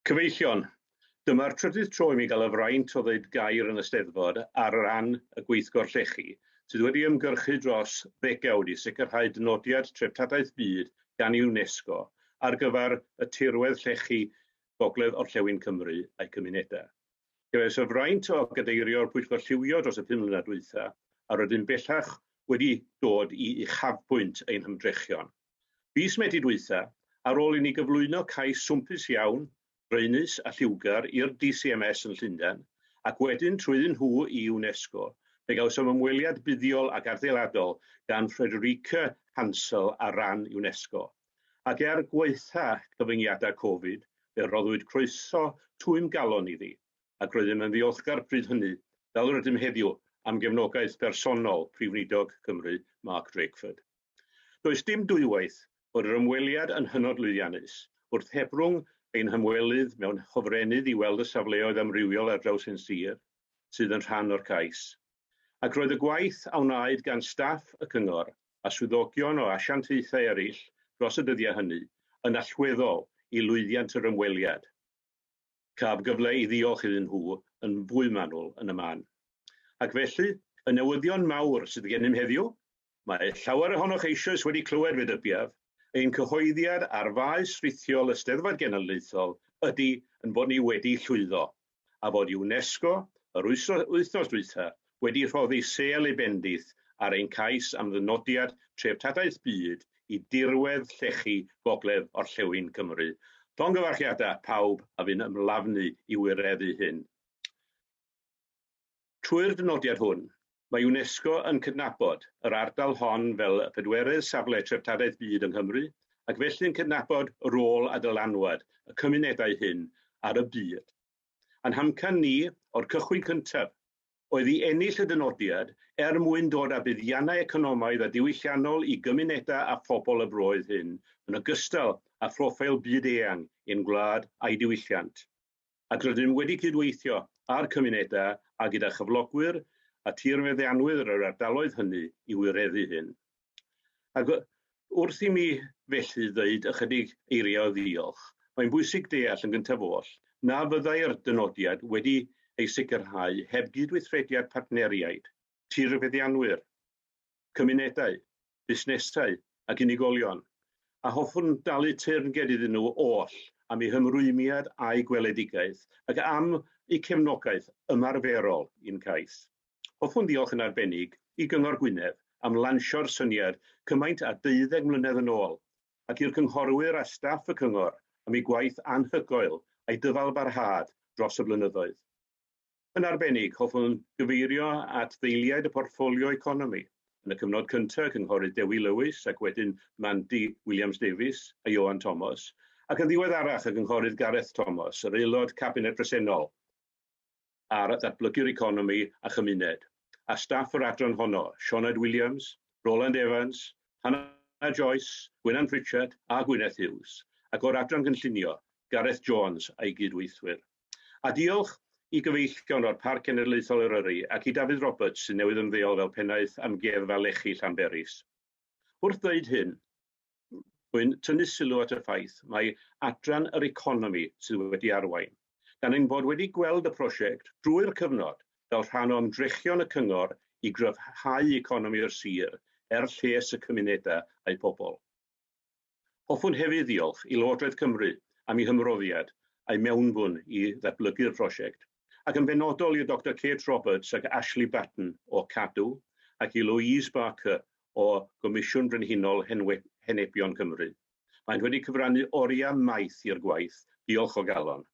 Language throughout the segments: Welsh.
Cyfeillion, Dyma'r trydydd tro i mi gael y fraint o ddweud gair yn y Steddfod ar ran y Gweithgor Llechi, sydd wedi ymgyrchu dros ddegawd i sicrhau dynodiad Treftadaeth Byd gan UNESCO ar gyfer y tirwedd llechi Gogledd Orllewin Cymru a'i cymunedau. Cefais y fraint o gadeirio'r Pwyllgor Lliwio dros y pum mlynedd dwytha, a rydym bellach wedi dod i uchafbwynt ein hymdrechion. Fis Medi dwytha, ar ôl i ni gyflwyno cais swmpus iawn, draenus a lliwgar i'r DCMS yn Llundain, ac wedyn trwyddyn nhw i UNESCO, fe gawsom ymweliad buddiol ac adeiladol gan Frederike Hansel ar ran UNESCO. Ac er gwaetha' cyfyngiadau Covid, fe roddwyd croeso twym galon iddi, ac roeddym yn ddiolchgar pryd hynny, fel yr ydym heddiw, am gefnogaeth bersonol Prif Weinidog Cymru, Mark Drakeford. Does dim dwywaith bod yr ymweliad yn hynod lwyddiannus. Wrth hebrwng ein hymwelydd mewn hofrennydd i weld y safleoedd amrywiol ar draws ein sir sydd yn rhan o'r cais, ac roedd y gwaith a wnaed gan staff y cyngor a swyddogion o asiantaethau eraill dros y dyddiau hynny yn allweddol i lwyddiant yr ymweliad. caf gyfle i ddiolch iddyn nhw yn fwy manwl yn y man. Ac felly, y newyddion mawr sydd gennym heddiw, mae llawer ohonoch eisoes wedi clywed fe dybiaf, ein cyhoeddiad ar faes rithiol y Steddfod Genedlaethol ydy ein bod ni wedi llwyddo, a fod UNESCO, yr wythnos dwytha, wedi rhoddi sêl ei bendith ar ein cais am ddynodiad Treftadaeth Byd i dirwedd llechi gogledd orllewin Cymru. Llongyfarchiadau pawb a fu'n ymlafnu i wireddu hyn. Trwy'r dynodiad hwn, mae UNESCO yn cydnabod yr ardal hon fel y pedwerydd safle Treftadaeth Byd yng Nghymru ac felly'n cydnabod rôl a dylanwad y cymunedau hyn ar y byd. Ein hamcan ni, o'r cychwyn cyntaf, oedd i ennill y dynodiad er mwyn dod â buddiannau economaidd a diwylliannol i gymunedau a phobl y broydd hyn, yn ogystal â phroffeil byd-eang ein gwlad a'i diwylliant, ac rydym wedi cydweithio â'r cymunedau a gyda chyflogwyr a thirfeddianwyr yr ardaloedd hynny i wireddu hyn. Ac wrth i mi felly ddweud ychydig eiriau o ddiolch, mae'n bwysig deall yn gyntaf oll na fyddai'r dynodiad wedi ei sicrhau heb gydweithrediad partneriaid, tirfeddianwyr, cymunedau, busnesau ac unigolion, a hoffwn dalu teyrnged iddyn nhw oll am eu hymrwymiad a'u gweledigaeth ac am eu cefnogaeth ymarferol i'n cais. Hoffwn ddiolch yn arbennig i Gyngor Gwynedd am lansio'r syniad cymaint â deuddeg mlynedd yn ôl, ac i'r cynghorwyr a staff y Cyngor am eu gwaith anhygoel a'i dyfalbarhad dros y blynyddoedd. Yn arbennig, hoffwn gyfeirio at ddeiliaid y portffolio economi, yn y cyfnod cyntaf, Cynghorydd Dewi Lewis ac wedyn Mandy Williams-Davies a Ioan Thomas, ac yn ddiweddarach y Cynghorydd Gareth Thomas, yr Aelod Cabinet presennol. ar ddatblygu'r economi a chymuned, a staff yr adran honno, Sioned Williams, Roland Evans, Hannah Joyce, Gwynan Pritchard a Gwyneth Hughes, ac o'r adran gynllunio, Gareth Jones a'i gyd-weithwyr. A diolch i gyfeillion o'r Parc Cenedlaethol Eryri ac i Dafydd Roberts sy'n newydd ymddeol fel Pennaeth Amgueddfa Lechi Llanberis. Wrth ddeud hyn, Rwy'n tynnu sylw at y ffaith mai adran yr economi sydd wedi arwain, gan ein bod wedi gweld y prosiect drwy'r cyfnod fel rhan o ymdrechion y cyngor i gryfhau economi'r sir er lles y cymunedau a'u pobl. Hoffwn hefyd ddiolch i Lywodraeth Cymru am ei hymroddiad a'i mewnbwn i ddatblygu'r prosiect. ac yn benodol i Doctor Kate Roberts ac Ashley Batten o Cadw ac i Louise Barker o Gomisiwn Brenhinol Henebion Cymru. Maent wedi cyfrannu oriau maith i'r gwaith, diolch o galon.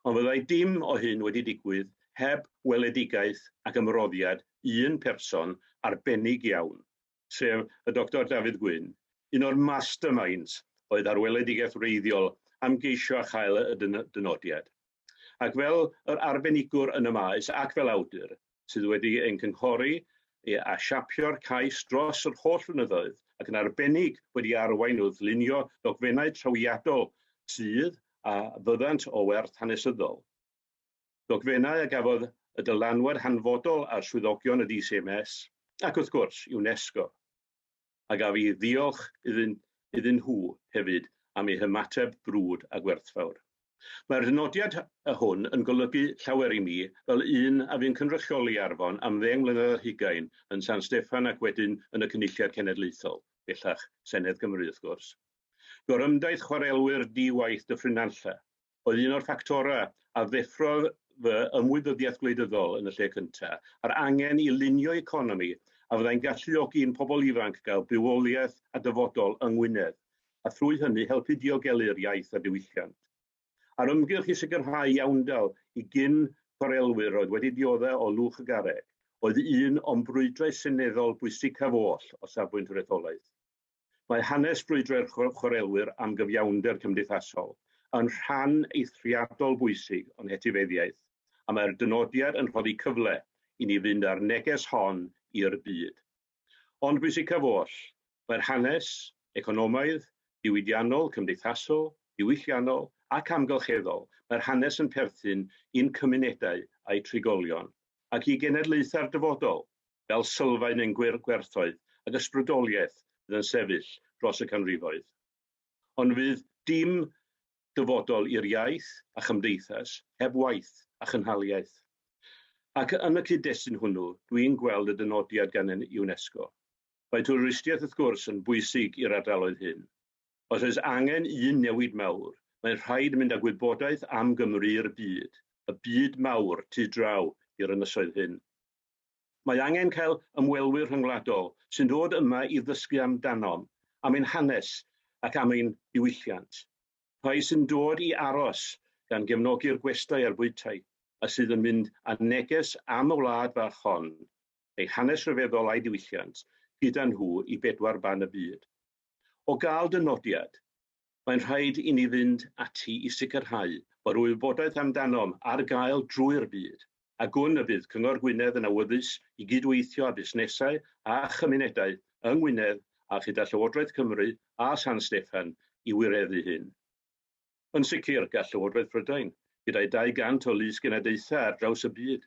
Ond fyddai dim o hyn wedi digwydd heb weledigaeth ac ymroddiad un person arbennig iawn, sef y Doctor Dafydd Gwyn, un o'r masterminds oedd ar weledigaeth wreiddiol am geisio a chael y dynodiad. Ac fel yr arbenigwr yn y maes ac fel awdur sydd wedi ein cynghori a siapio'r cais dros yr holl flynyddoedd ac yn arbennig wedi arwain wrth lunio dogfennau trawiadol sydd a fyddant o werth hanesyddol. ddogfennau a gafodd y dylanwad hanfodol ar swyddogion y DCMS ac, wrth gwrs, UNESCO, a gaf i ddiolch iddyn iddyn nhw hefyd am eu hymateb brwd a gwerthfawr. Mae'r nodiad hwn yn golygu llawer i mi fel un a fu'n cynrychioli Arfon am ddeng mlynedd ar hugain yn San Steffan ac wedyn yn y Cynulliad Cenedlaethol, bellach Senedd Cymru, wrth gwrs. Gorymdaith chwarelwyr di-waith Dyffryn Nantlle, oedd un o'r ffactorau a ddeffrodd fy ymwybyddiaeth gwleidyddol yn y lle cyntaf, a'r angen i lunio economi a fyddai'n galluogi i'n pobl ifanc gael bywoliaeth a dyfodol yng Ngwynedd, a thrwy hynny helpu diogelu'r iaith a diwylliant. A'r ymgyrch i sicrhau iawndal i gyn-chwarelwyr oedd wedi diodde' o lwch y garreg, oedd un o'm brwydrau seneddol bwysicaf oll o safbwynt yr etholaeth. Mae hanes brwydrau'r chwarelwyr am gyfiawnder cymdeithasol yn rhan eithriadol bwysig o'n hetifeddiaeth, a mae'r dynodiad yn rhoddi cyfle i ni fynd â'r neges hon i'r byd. Ond bwysicaf oll, mae'r hanes, economaidd, diwydiannol, cymdeithasol, diwylliannol ac amgylcheddol, mae'r hanes yn perthyn i'n cymunedau a'u trigolion, ac i genedlaethau'r dyfodol, fel sylfaen ein gwŷr gwerthoedd ac ysbrydoliaeth fydd yn sefyll dros y canrifoedd. Ond fydd dim dyfodol i'r iaith a chymdeithas heb waith a chynhaliaeth. Ac yn y cyd-destun hwnnw, dw i'n gweld y dynodiad gan UNESCO. Mae twristiaeth wrth gwrs yn bwysig i'r ardaloedd hyn. Os oes angen un newid mawr, mae'n rhaid mynd â gwybodaeth am Gymru i'r byd, y byd mawr, tu draw i'r ynysoedd hyn. Mae angen cael ymwelwyr rhyngwladol sy'n dod yma i ddysgu amdanom, am ein hanes ac am ein diwylliant. Rhai sy'n dod i aros, gan gefnogi'r gwestai a'r bwytai, a sydd yn mynd â neges am y wlad fach hon, ei hanes rhyfeddol a'i diwylliant, gyda nhw i bedwar ban y byd. O gael dy nodiad, mae'n rhaid i ni fynd ati i sicrhau bod y wybodaeth amdanom ar gael drwy'r byd, a gwn y bydd Cyngor Gwynedd yn awyddus i gydweithio â busnesau a chymunedau yng Ngwynedd a chyda Llywodraeth Cymru a San Steffan i wireddu hyn. Yn sicr, gall Llywodraeth Prydain, gyda'i 200 o lys-genadaethau ar draws y byd,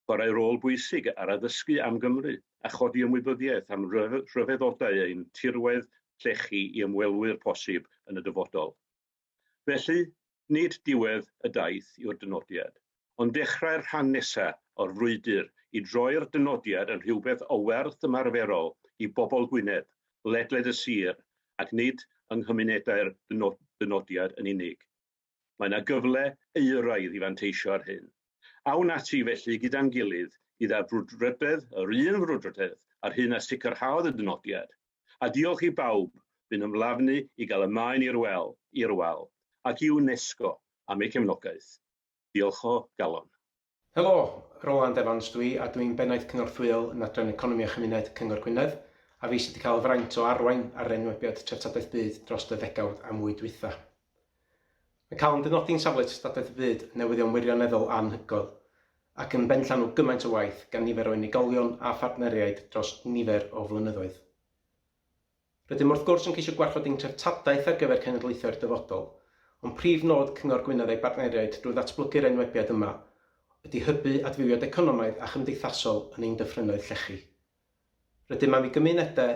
chwarae rôl bwysig ar addysgu am Gymru a chodi ymwybyddiaeth am ryfeddodau ein tirwedd llechi i ymwelwyr posib yn y dyfodol. Felly, nid diwedd y daith yw'r dynodiad, ond dechrau'r rhan nesaf o'r frwydr i droi'r dynodiad yn rhywbeth o werth ymarferol i bobl Gwynedd, ledled y sir, ac nid yng nghymunedau'r dynodiad yn unig. Mae 'na gyfle euraidd i fanteisio ar hyn. Awn ati felly gyda'n gilydd i ddarbrwdfrydedd yr un frwdfrydedd â'r hyn a sicrhaodd y dynodiad, a diolch i bawb fu'n ymlafnu i gael y maen i'r wel, i'r wal, ac i UNESCO am eu cefnogaeth. Diolch o galon. Helo! Roland Evans dw i a dw i'n Bennaeth Cynorthwyol yn Adran Economi a Chymuned Cyngor Gwynedd a fi sydd wedi cael y fraint o arwain ar yr enwebiad Treftadaeth Byd dros y ddegawd a mwy dwytha. Mae cael yn dynodi yn safle Treftadaeth y Byd yn newyddion wirioneddol anhygoel ac yn benllanw gymaint o waith gan nifer o unigolion a phartneriaid dros nifer o flynyddoedd. Rydym wrth gwrs yn ceisio gwarchod ein treftadaeth ar gyfer cenedlaethau'r dyfodol, ond prif nod Cyngor Gwynedd a'i bartneriaid drwy ddatblygu'r enwebiad yma ydy hybu adfywiad economaidd a chymdeithasol yn ein dyffrynnoedd llechi. Rydym am i gymunedau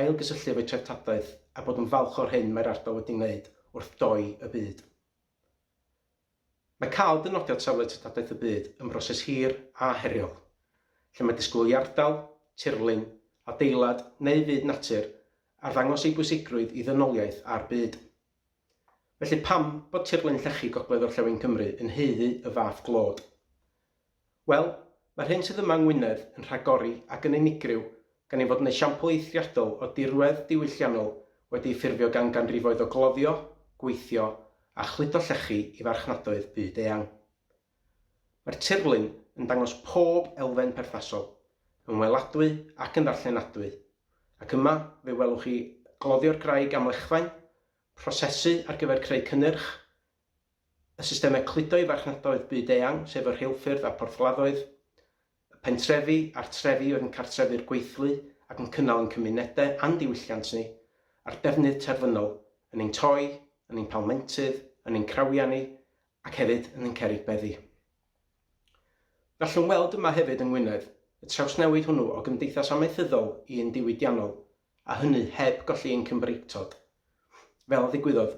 ailgysylltu efo'u treftadaeth a bod yn falch o'r hyn mae'r ardal wedi wneud wrth doi y byd. Mae cael dynodiad Safle Treftadaeth y Byd yn broses hir a heriol, lle mae disgwyl i ardal, tirlun, adeilad neu fyd natur arddangos ei bwysigrwydd i ddynoliaeth a'r byd. Felly pam bod tirlun llechi Gogledd-orllewin Cymru yn haeddu y fath glod? Wel, mae'r hyn sydd yma yng Ngwynedd yn rhagori ac yn unigryw gan ein fod yn esiampl eithriadol o dirwedd diwylliannol wedi ei ffurfio gan ganrifoedd o gloddio, gweithio a chludo llechi i farchnadoedd byd-eang. Mae'r tirlun yn dangos pob elfen perthnasol, yn weladwy ac yn ddarllenadwy, ac yma fe welwch chi gloddio'r graig amlechfain, prosesu ar gyfer creu cynnyrch, y systemau cludo i farchnadoedd byd-eang, sef y rheilffyrdd a'r porthladdoedd, y pentrefi a'r trefi oedd yn cartrefu'r gweithlu ac yn cynnal ein cymunedau a'n diwylliant ni, a'r defnydd terfynol, yn ein toi, yn ein palmentydd, yn ein crawiau ni, ac hefyd yn ein cerrig beddi. Gallwn weld yma hefyd yng Ngwynedd, y trawsnewid hwnnw o gymdeithas amaethyddol i un diwydiannol, a hynny heb golli ein Cymreictod, fel a ddigwyddodd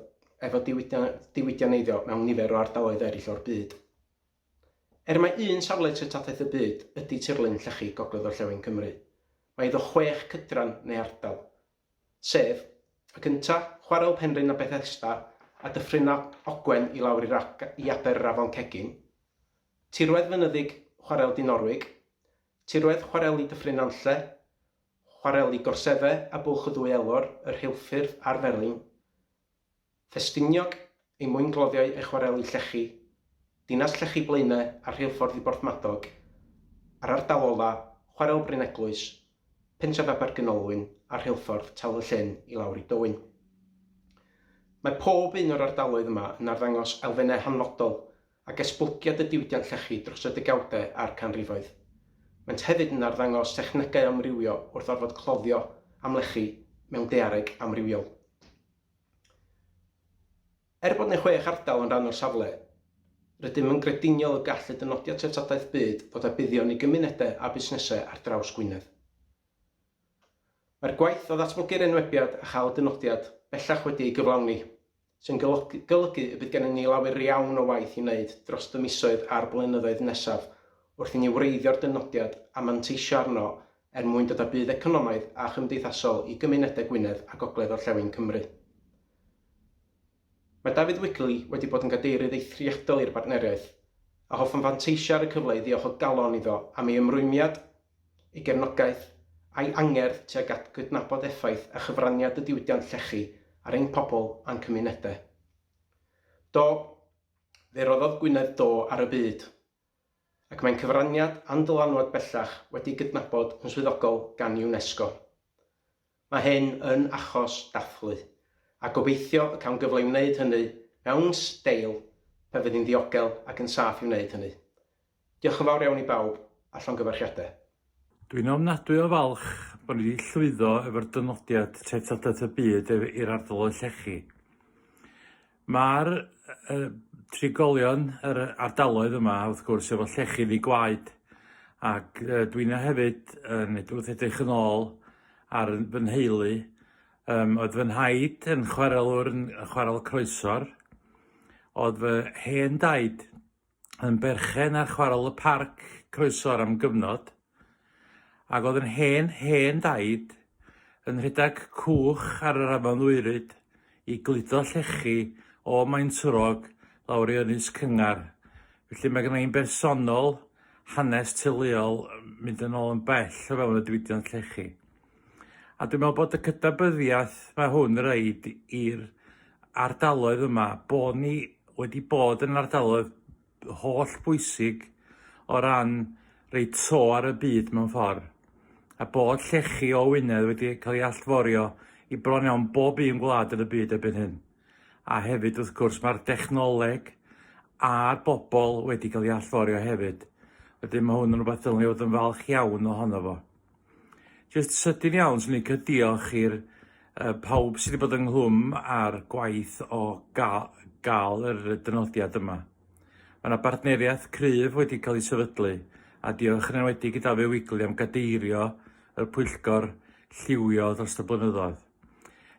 efo diwydianneiddio mewn nifer o ardaloedd eraill o'r byd. Er mai un safle treftadaeth y byd ydy tirlun llechi gogledd-orllewin Cymru, mae iddo chwech cydran neu ardal, sef, y cyntaf, Chwarel Penrhyn a Bethesda a Dyffryn Ogwen i lawr i aber yr Afon Cegin, tirwedd fynyddig Chwarel Dinorwig, tirwedd chwareli Dyffryn Nantlle, chwareli gorsefe a bwlch y ddwy elor, y rheilffyrdd a'r felin, Ffestiniog, ei mwyngloddiau a'i chwareli llechi, dinas llechi Blaene a'r rheilffordd i Borthmadog, a'r ardal ola, chwarel Bryneglwys, pentref Abergynolwyn a'r rheilffordd Tal y Llyn i lawr i Dowyn. Mae pob un o'r ardaloedd yma yn arddangos elfennau hanfodol ac esbulgiad y diwydiant llechi dros y degawdau a'r canrifoedd. Maent hefyd yn arddangos technegau amrywio wrth orfod cloddio amlechi mewn daeareg amrywiol. Er bod 96 ardal yn rhan o'r safle, rydym yn grediniol y gall y Dynodiad Treftadaeth Byd fod â buddion i gymunedau a busnesau ar draws Gwynedd. Mae'r gwaith o ddatblygu'r enwebiad a chael y dynodiad bellach wedi ei gyflawni. sy'n golygu y bydd gennym ni lawer iawn o waith i wneud dros y misoedd a'r blynyddoedd nesaf wrth i ni wreiddio'r dynodiad a manteisio arno er mwyn dod â budd economaidd a chymdeithasol i gymunedau Gwynedd a gogledd-orllewin Cymru. Mae David Wikley wedi bod yn gadeirydd eithriadol i'r bartneriaeth, a hoffwn fanteisio ar y cyfle i ddiolch o galon iddo am ei ymrwymiad ei gefnogaeth a'i angerdd tuag at gydnabod effaith a chyfraniad y diwydiant llechi ar ein pobl a'n cymunedau. Do, fe roddodd Gwynedd do ar y byd, ac mae'n cyfraniad a'n dylanwad bellach wedi'i gydnabod yn swyddogol gan UNESCO. Mae hyn yn achos dathlu, a gobeithio y cawn gyfle i wneud hynny mewn steil pan fydd hi'n ddiogel ac yn saff i wneud hynny. Diolch yn fawr iawn i bawb, a llongyfarchiadau. Dwi'n ofnadwy o falch bod ni wedi llwyddo efo'r dynodiad Treftadaeth y Byd i'r ardal o llechi. Mae'r yy trigolion yr yy ardaloedd yma wrth gwrs efo llechi ddi gwaed ac yy dwi 'na hefyd yn ed- wrth edrych yn ôl ar yn fy nheulu yym oedd fy nhaid yn chwarelwr yn yy chwarel croesor, o'dd fy hen daid yn berchen ar chwarel y parc croesor am gyfnod, ac oedd yn hen, hen daid, yn rhedeg cwch ar yr afon Ddwyryd i gludo llechi o Maentwrog lawr i Ynys Cyngar. Felly mae gen i'n bersonol hanes teuluol mynd yn ôl yn bell o fewn y diwydiant llechi. A dwi'n meddwl bod y cydnabyddiaeth mae hwn reid i'r ardaloedd yma, bod ni wedi bod yn ardaloedd holl bwysig o ran rei to ar y byd mewn ffordd, a bod llechi o Wynedd wedi cael ei allforio i bron iawn bob un gwlad yn y byd erbyn hyn. A hefyd wrth gwrs mae'r dechnoleg a'r bobl wedi cael ei allforio hefyd. Wedyn mae hwn yn rhywbeth dylwn i fod yn falch iawn ohono fo. Jyst sydyn iawn, swn i'n licio diolch i'r yy pawb sydd wedi bod ynghlwm â'r gwaith o ga- gael yr dynodiad yma. Mae yna bartneriaeth cryf wedi cael ei sefydlu, a diolch yn enwedig i Dafydd Wigley am gadeirio y pwyllgor lliwio dros y blynyddoedd.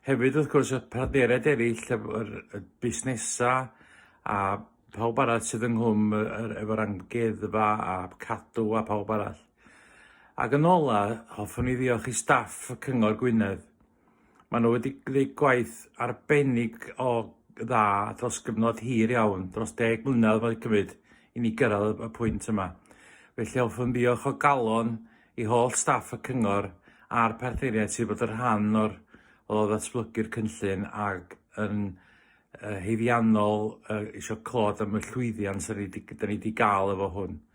Hefyd, wrth gwrs, y partneriaid eraill, y, yr, y busnesa a pawb arall sydd ynghlwm y, yr, efo'r amgueddfa a cadw a pawb arall. Ac yn ola, hoffwn i ddiolch i staff y Cyngor Gwynedd. Mae nhw wedi gwneud gwaith arbennig o dda dros gyfnod hir iawn, dros deg mlynedd mae'n cymryd i ni gyrraedd y pwynt yma. Felly hoffwn ddiolch o galon i holl staff y Cyngor a'r partneriaid sydd bod yn rhan o'r o ddatblygu'r cynllun ac yn uh, heiddiannol uh, eisiau clod am y llwyddiant sy'n ni wedi gael efo hwn.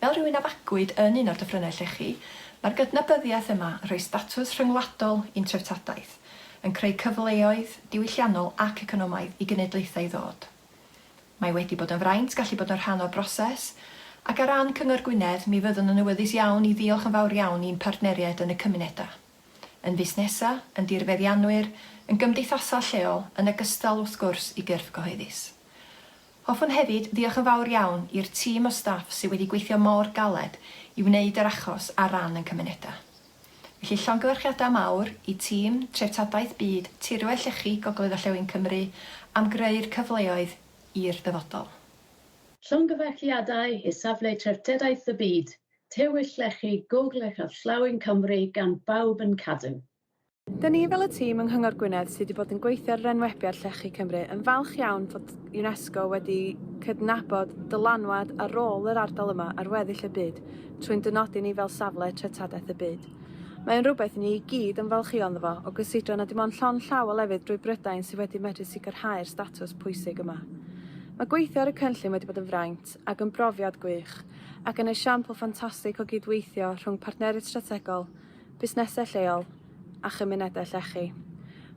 Fel rhywun a fagwyd yn un o'r dyffrynnau llechi, mae'r gydnabyddiaeth yma yn rhoi statws rhyngwladol i'n treftadaeth, yn creu cyfleoedd diwylliannol ac economaidd i genedlaethau ddod. Mae wedi bod yn fraint gallu bod yn rhan o'r broses, ac ar ran Cyngor Gwynedd, mi fyddwn yn awyddus iawn i ddiolch yn fawr iawn i'n partneriaid yn y cymunedau. Yn fusnesau, yn dirfeddianwyr, yn gymdeithasau lleol, yn ogystal, wrth gwrs, i gyrff gyhoeddus. Hoffwn hefyd ddiolch yn fawr iawn i'r tîm o staff sydd wedi gweithio mor galed i wneud yr achos ar ran ein cymunedau. Felly llongyfarchiadau mawr i tîm Treftadaeth Byd Tirwedd Llechi Gogledd Orllewin Cymru am greu'r cyfleoedd i'r dyfodol. Llongyfarchiadau i Safle Treftadaeth y Byd, Tirwedd Llechi Gogledd Orllewin Cymru gan bawb yn cadw Dyn ni fel y tîm yng Nghyngor Gwynedd sydd wedi bod yn gweithio ar yr enwebiad Llechi Cymru yn falch iawn fod UNESCO wedi cydnabod dylanwad a rôl yr ardal yma ar weddill y byd trwy'n dynodi ni fel safle treftadaeth y byd. Mae o'n rhywbeth i ni i gyd ymfalchïo ynddo fo, o gysidro na dim ond llond llaw o lefydd drwy Brydain sydd wedi medru sicrhau'r statws pwysig yma. Mae gweithio ar y cynllun wedi bod yn fraint ac yn brofiad gwych ac yn esiampl ffantastig o gyd-weithio rhwng partneriaid strategol, busnesau lleol a chymunedau llechi.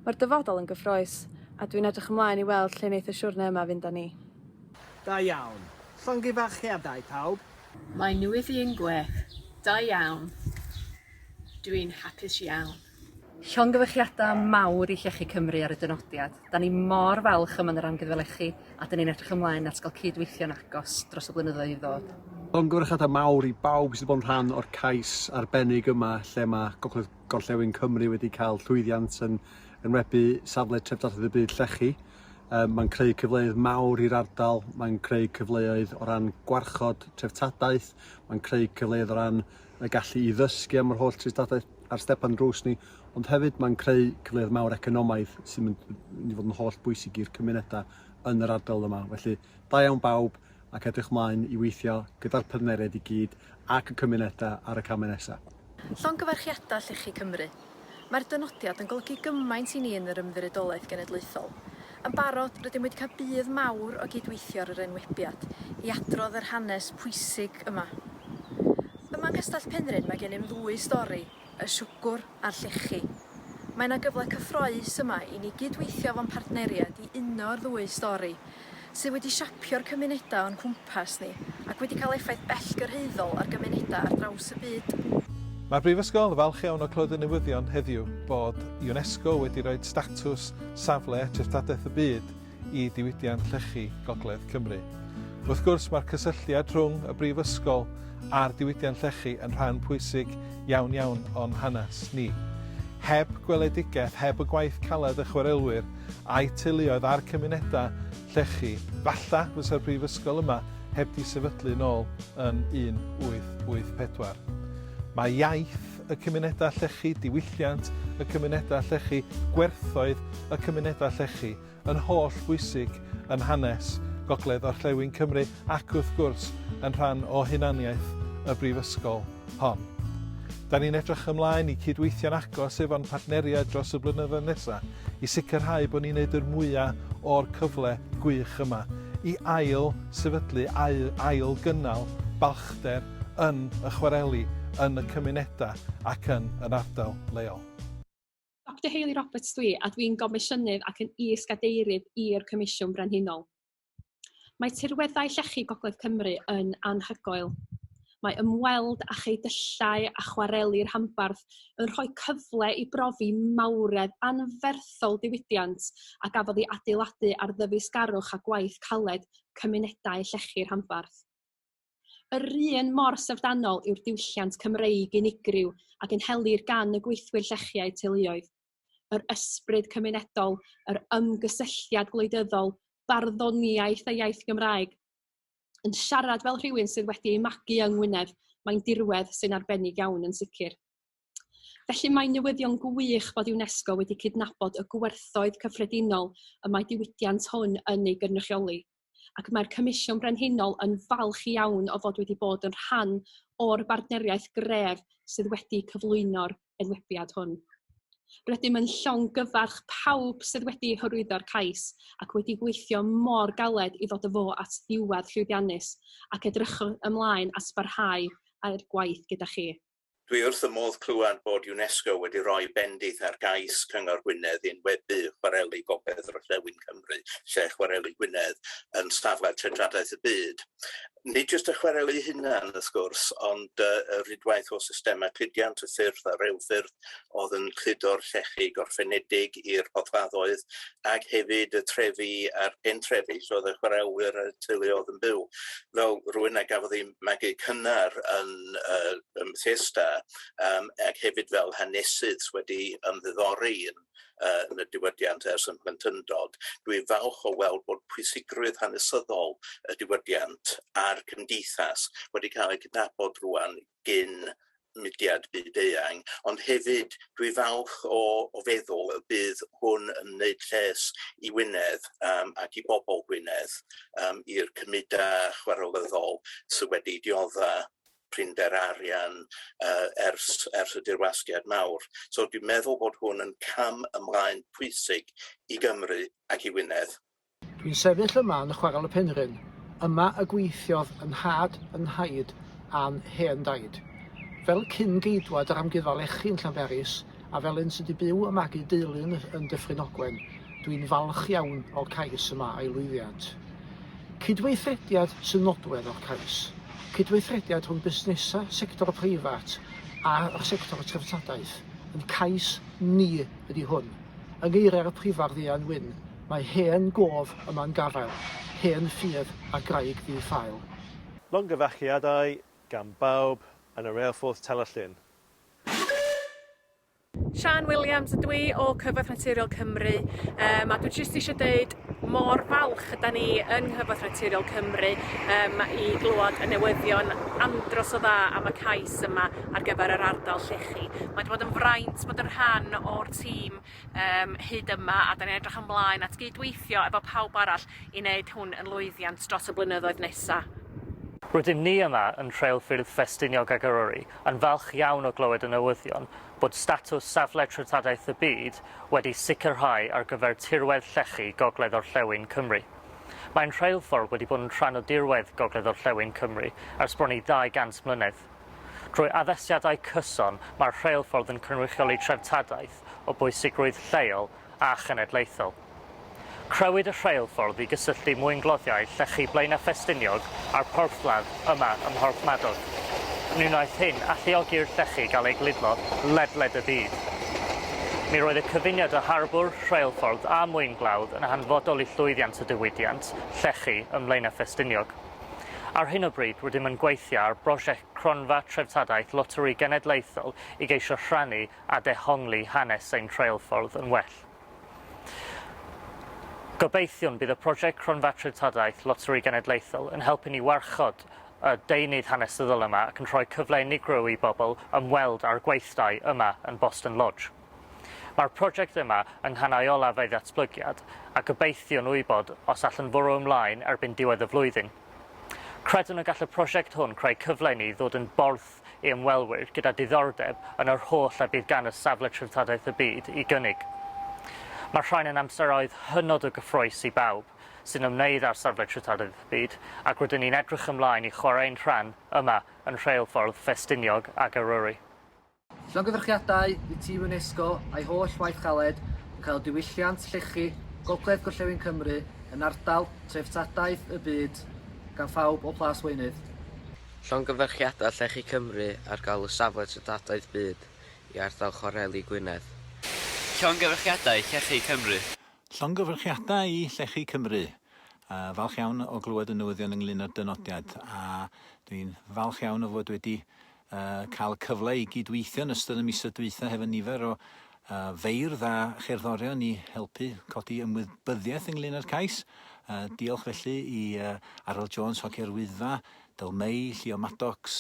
Mae'r dyfodol yn gyffrous, a dwi'n edrych ymlaen i weld lle wneith y siwrne yma fynd â ni. Da iawn. Llongyfarchiadau pawb. Mae newyddion gwych. Da iawn. Dw i'n hapus iawn. Llongyfarchiadau mawr i Llechi Cymru ar y dynodiad. 'Da ni mor falch o Menre'n gyda lechi a 'dyn ni'n edrych ymlaen at gael cyd-weithio'n agos dros y blynyddoedd i ddod. Llongyfarchiadau mawr i bawb sydd wedi bod yn rhan o'r cais arbennig yma lle mae Gogledd Gorllewin Cymru wedi cael llwyddiant yn enwebu safle treftadaeth y byd llechi. Um, mae'n creu cyfleoedd mawr i'r ardal, mae'n creu cyfleoedd o ran gwarchod treftadaeth, mae'n creu cyfleoedd o ran y gallu i ddysgu am yr holl treftadaeth ar stepan drws ni, ond hefyd mae'n creu cyfleoedd mawr economaidd sy'n mynd i fod yn holl bwysig i'r cymunedau yn yr ardal yma. Felly, da iawn bawb ac edrych mlaen i weithio gyda'r partneriaid i gyd ac y cymunedau ar y camau nesaf. Llongyfarchiadau Llechi Cymru. Mae'r dynodiad yn golygu gymaint i ni yn yr Ymddiriedolaeth Genedlaethol. Yn barod, rydym wedi cael budd mawr o gyd-weithio ar yr enwebiad i adrodd yr hanes pwysig yma. Yma yng Nghastell Penrhyn mae gennym ddwy stori, y siwgwr a'r llechi. Mae yna gyfle cyffroes yma i ni gyd-weithio fo'n partneriaid i uno'r ddwy stori, sydd wedi siapio'r cymunedau o'n cwmpas ni ac wedi cael effaith bellgyrhaeddol ar gymunedau ar draws y byd. Mae'r Brifysgol yn falch iawn o clywed y newyddion heddiw bod UNESCO wedi rhoi statws safle Treftadaeth y Byd i diwydiant llechi Gogledd Cymru. Wrth gwrs, mae'r cysylltiad rhwng y Brifysgol a'r diwydiant llechi yn rhan pwysig iawn iawn o'n hanes ni. Heb gweledigaeth, heb y gwaith caled y chwarelwyr a'u teuluoedd a'r cymunedau llechi, falla fysa'r Brifysgol yma heb di sefydlu nôl yn 1884. Mae iaith, y cymunedau llechi, diwylliant y cymunedau llechi, gwerthoedd y cymunedau llechi, yn holl bwysig yn hanes Gogledd Orllewin Cymru ac wrth gwrs yn rhan o hunaniaeth y Brifysgol hon. Da ni'n edrych ymlaen i cydweithio'n agos efo'n partneriaid dros y blynyddoedd nesaf i sicrhau bod ni'n neud yr mwyaf o'r cyfle gwych yma i ail sefydlu, ail, ail gynnal balchder yn y chwareli, yn y cymunedau ac yn yr ardal leol. Doctor Hayley Roberts dwi a dwi'n Gomisiynydd ac yn Is-gadeirydd i'r Comisiwn Brenhinol. Mae tirweddau llechi Gogledd Cymru yn anhygoel. Mae ymweld â cheudyllau a chwareli rhanbarth yn rhoi cyfle i brofi mawredd anferthol diwydiant a gafodd ei adeiladu ar ddyfeisgarwch a gwaith caled cymunedau llechi rhanbarth. Yr un mor syfrdanol yw'r diwylliant Cymreig unigryw a gynhelir gan y gweithwyr llechiau teuluoedd. Yr ysbryd cymunedol, yr ymgysylltiad gwleidyddol, barddoniaeth a iaith Gymraeg. Yn siarad fel rhywun sydd wedi ei magu yng Ngwynedd, mae'n dirwedd sy'n arbennig iawn yn sicr. Felly mae'n newyddion gwych fod UNESCO wedi cydnabod y gwerthoedd cyffredinol y mae diwydiant hwn yn ei gynrychioli, ac mae'r Comisiwn Brenhinol yn falch iawn o fod wedi bod yn rhan o'r bartneriaeth gref sydd wedi cyflwyno'r enwebiad hwn. Rydym yn llongyfarch pawb sydd wedi hyrwyddo'r cais ac wedi gweithio mor galed i ddod â fo at ddiwedd llwyddiannus ac edrychwch ymlaen at barhau â'r gwaith gyda chi. Dwi wrth fy modd clywed bod UNESCO wedi rhoi bendith ar gais Cyngor Gwynedd i enwebu chwareli gogledd orllewin Cymru, lle chwareli Gwynedd yn safle tregladaeth y byd. Nid jyst y chwareli eu hunain, wrth gwrs, ond y rhwydwaith o systemau cludiant y ffyrdd a rheilffyrdd oedd yn cludo'r llechi gorffenedig i'r porthladdoedd, ac hefyd y trefi a'r pentrefi lle oedd y chwarelwyr a'r teuluoedd yn byw. fel rhywun a gafodd ei magu cynnar yn yy ym Mhethesda yym ac hefyd fel hanesydd sy wedi ymddiddori yn yy yn y diwydiant ers yn blentyndod dwi falch o weld bod pwysigrwydd hanesyddol y diwydiant a'r cymdeithas wedi ca'l ei cydnabod rŵan gyn mudiad byd eang, ond hefyd dwi falch o o feddwl y bydd hwn yn wneud lles i Wynedd yym ac i bobl Gwynedd yym i'r cymuda chwarelyddol sy wedi diodda prinder arian yy ers ers y dirwasgiad mawr. So dwi'n meddwl bod hwn yn cam ymlaen pwysig i Gymru ac i Wynedd. Dwi'n sefyll yma yn Chwarel y Penrhyn, yma y gweithiodd yn nhad, yn nhaid a'n hen daid. Fel cyn-geidwad yr Amgueddfa Lechi yn Llanberis, a fel un sydd wedi byw a magu deulu yn yn Dyffryn Ogwen, dwi'n falch iawn o'r cais yma a'i lwyddiant. Cydweithrediad sy'n nodwedd o'r cais, cydweithrediad rhwng busnesau sector preifat a'r sector treftadaeth, ein cais ni ydi hwn. Yng ngeiriau'r Prifardd Ieuan Wyn, Mae hen gof yma'n gafael, hen ffydd a graig ddi-ffael. Llongyfarchiadau gan bawb yn y Reilffordd Terllyn. Siân Williams ydw i o Cyfoeth Naturiol Cymru yym a dwi jyst isio deud mor falch ydan ni yng Nghyfoeth Naturiol Cymru yym i glywed y newyddion andros o dda am y cais yma ar gyfer yr ardal llechi. Mae 'di bod yn fraint bod yn rhan o'r tîm um, hyd yma a da ni'n edrych ymlaen at gydweithio efo pawb arall i wneud hwn yn lwyddiant dros y blynyddoedd nesaf. Rydym ni yma yn Rheilffyrdd Ffestiniog ag Eryri yn falch iawn o glywed y newyddion bod statws Safle Treftadaeth y Byd wedi sicrhau ar gyfer tirwedd llechi Gogledd-orllewin Cymru. Mae'n rheilffordd wedi bod yn rhan o dirwedd Gogledd-orllewin Cymru ers bron i 200 mlynedd. Drwy addasiadau cyson, mae'r rheilffordd yn cynrychioli treftadaeth o bwysigrwydd lleol a chenedlaethol. Crëwyd y rheilffordd i gysylltu mwyngloddiau llechi Blaenau Ffestiniog â'r porthladd yma ym Mhorthmadog. Ni wnaeth hyn alluogi i'r llechi gael eu gludlo ledled y byd. Mi roedd y cyfuniad o harbwr, rheilffordd a mwynglawdd yn hanfodol i llwyddiant y diwydiant llechi ym Mlaenau Ffestiniog. Ar hyn o bryd rydym yn gweithio ar brosiect Cronfa Treftadaeth Loteri Genedlaethol i geisio rhannu a dehongli hanes ein rheilffordd yn well. Gobeithiwn bydd y prosiect Cronfa Treftadaeth Loteri Genedlaethol yn helpu ni warchod y deunydd hanesyddol yma ac yn rhoi cyfle unigryw i bobl ymweld â'r gweithdai yma yn Boston Lodge. Mae'r prosiect yma yng nghanau olaf ei ddatblygiad a gobeithiwn wybod os all yn fwrw ymlaen erbyn diwedd y flwyddyn. Credwn y gall y prosiect hwn creu cyfle i ni ddod yn borth i ymwelwyr gyda diddordeb yn yr holl a bydd gan y Safle Treftadaeth y Byd i gynnig. Mae'r rhain yn amseroedd hynod o gyffrous i bawb sy'n ymwneud â'r Safle Treftadaeth y Byd ac rydyn ni'n edrych ymlaen i chwarae ein rhan yma yn rheilffordd Ffestiniog ac Eryri. Llongyfarchiadau i tîm UNESCO a'i holl waith caled yn cael diwylliant llechi Gogledd Gorllewin Cymru yn ardal treftadaeth y byd gan phawb o Plas Weunydd. Llongyfarchiadau Llechi Cymru ar galw Safle Treftadaeth Byd i ardal Chwareli Gwynedd. Llongyfarchiadau Llechi Cymru. Llongyfarchiadau i Llechi Cymru. Falch iawn o glywed y newyddion ynglŷn â'r dynodiad a dwi'n falch iawn o fod wedi a cael cyfle i gyd-weithio yn ystod y misoedd dwytha hefo nifer o a, feirdd a cherddorion i helpu codi ymwybyddiaeth ynglyn â'r cais. A, diolch felly i a, Arwel Jones, Hocio'r Wyddfa, Dyl Mei, Llio Maddox,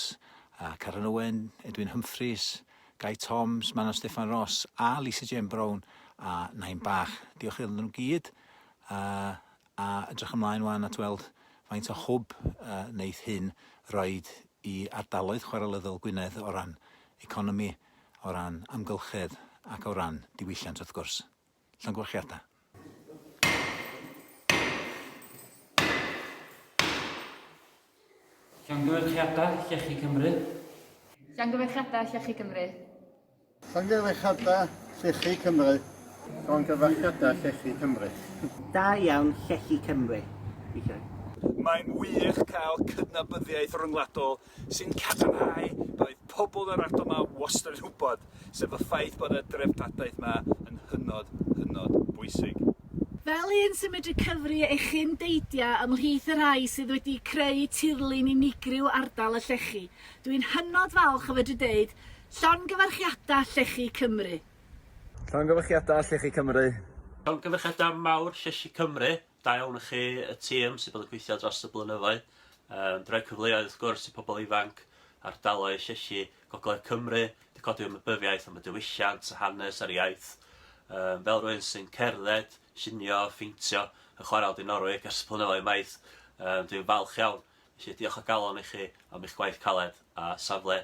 a, Karen Owen, Edwin Humphreys, Gai Toms, Manon Steffan Ross a Lisa Jane Brown a Nain Bach. Diolch iddyn nhw gyd a, A edrych ymlaen wan at weld faint o hwb y wneith hyn roid i ardaloedd chwarelyddol Gwynedd o ran economi, o ran amgylchedd ac o ran diwylliant wrth gwrs. Llongyfarchiadau. Llongyfarchiadau Llechi Cymru. Llongyfarchiadau Llechi Cymru. Llongyfarchiadau Llechi Cymru. Llongyfarchiadau Llechi Cymru. Da iawn Llechi Cymru. Diolch. Mae'n wych cael cydnabyddiaeth ryngwladol sy'n cadarnhau beth oedd pobl yr ardal ma wastad yn wybod, sef y ffaith bod y dreftadaeth ma yn hynod, hynod bwysig. Fel un sy'n medru cyfri ei chyn deidia ymhlith y rhai sydd wedi creu tirlun unigryw ardal y llechi, dw i'n hynod falch o fedru deud Llongyfarchiada Llechi Cymru. Llongyfarchiada Llechi Cymru. Llongyfarchiada mawr Llechi Cymru, da iawn i chi y tîm sydd bod yn gweithio dros y blynyddoedd, yn rhoi cyfleoedd wrth gwrs i pobl ifanc, ardaloedd llechi gogledd Cymru, wedi codi ymwybyddiaeth am y diwylliant, y hanes a'r iaith. Yym fel rhywun sy'n cerdded, llunio, pheintio yn chwarae Aldi Norwig ers y blynyddoedd maith, yym dwi'n falch iawn Felly, diolch o galon i chi am eich gwaith caled a safle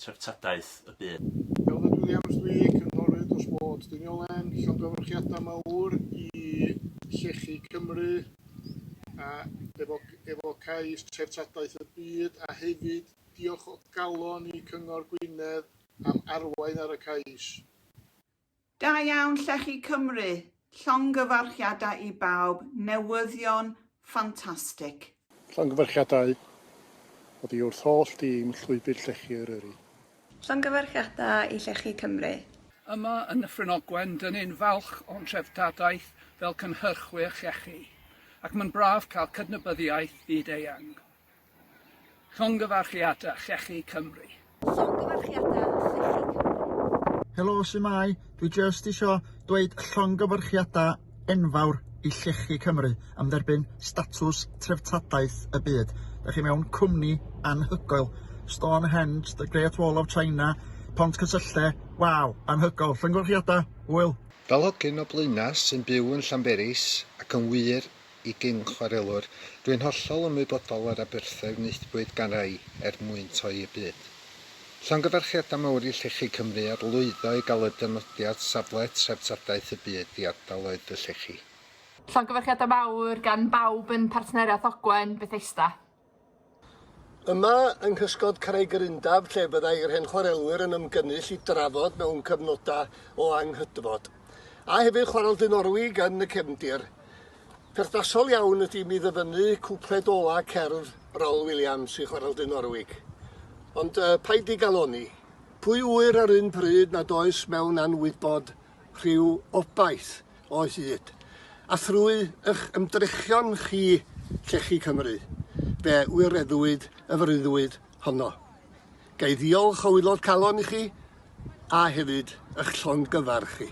treftadaeth y byd. Elfed Williams dw i, cynghorydd dros Bord Diniolen. Llongyfarchiadau mawr i Llechi Cymru efo efo cais Treftadaeth y Byd a hefyd diolch o galon i Cyngor Gwynedd am arwain ar y cais. Da iawn Llechi Cymru! Llongyfarchiadau i bawb, newyddion ffantastig. Llongyfarchiadau oddi wrth holl dîm Llwybr Llechi Eryri. Llongyfarchiadau i Llechi Cymru! Yma yn Nyffryn Ogwen dyn ni'n falch o'n treftadaeth fel cynhyrchwyr llechi ac mae'n braf cael cydnabyddiaeth fyd-eang. Llongyfarchiada Llechi Cymru. Llongyfarchiada Llechi Cymru. Helo, su'mai? Dwi jyst isio dweud llongyfarchiada enfawr i Llechi Cymru am dderbyn statws Treftadaeth y Byd. Da chi mewn cwmni anhygoel. Stonehenge, The Great Wall of China, Pont Cysylle, waw, anhygoel. Llongyfarchiada, Hwyl! Fel hogyn o Blaenau sy'n byw yn Llanberis ac yn wir i gyn chwarelwr, dwi'n hollol ymwybodol o'r aberthau wnaethpwyd gan rai er mwyn toi y byd. Llongyfarchiadau mawr i Llechi Cymru ar lwyddo i gael y dynodiad safle Treftadaeth y Byd i ardaloedd y Llechi. Llongyfarchiadau mawr gan bawb yn Partneriaeth Ogwen Bethesda. Yma yng nghysgod Craigyrundaf lle byddai yr hen chwarelwyr yn ymgynnull i drafod mewn cyfnodau o anghydfod. A hefyd chwarel Dynorwig yn y cefndir. Perthnasol iawn ydy mi ddyfynnu cwpled ola cerdd Rawl Williams i chwarel Dynorwig. Ond uh, paid di galoni. Pwy ŵyr ar un pryd nad oes mewn anwybod rhyw obaith o hyd, a thrwy eich ymdrechion chi Llechi Cymru, fe wireddwyd y freuddwyd honno. Ga i ddiolch o wylo'r calon i chi, a hefyd ych llongyfarch chi.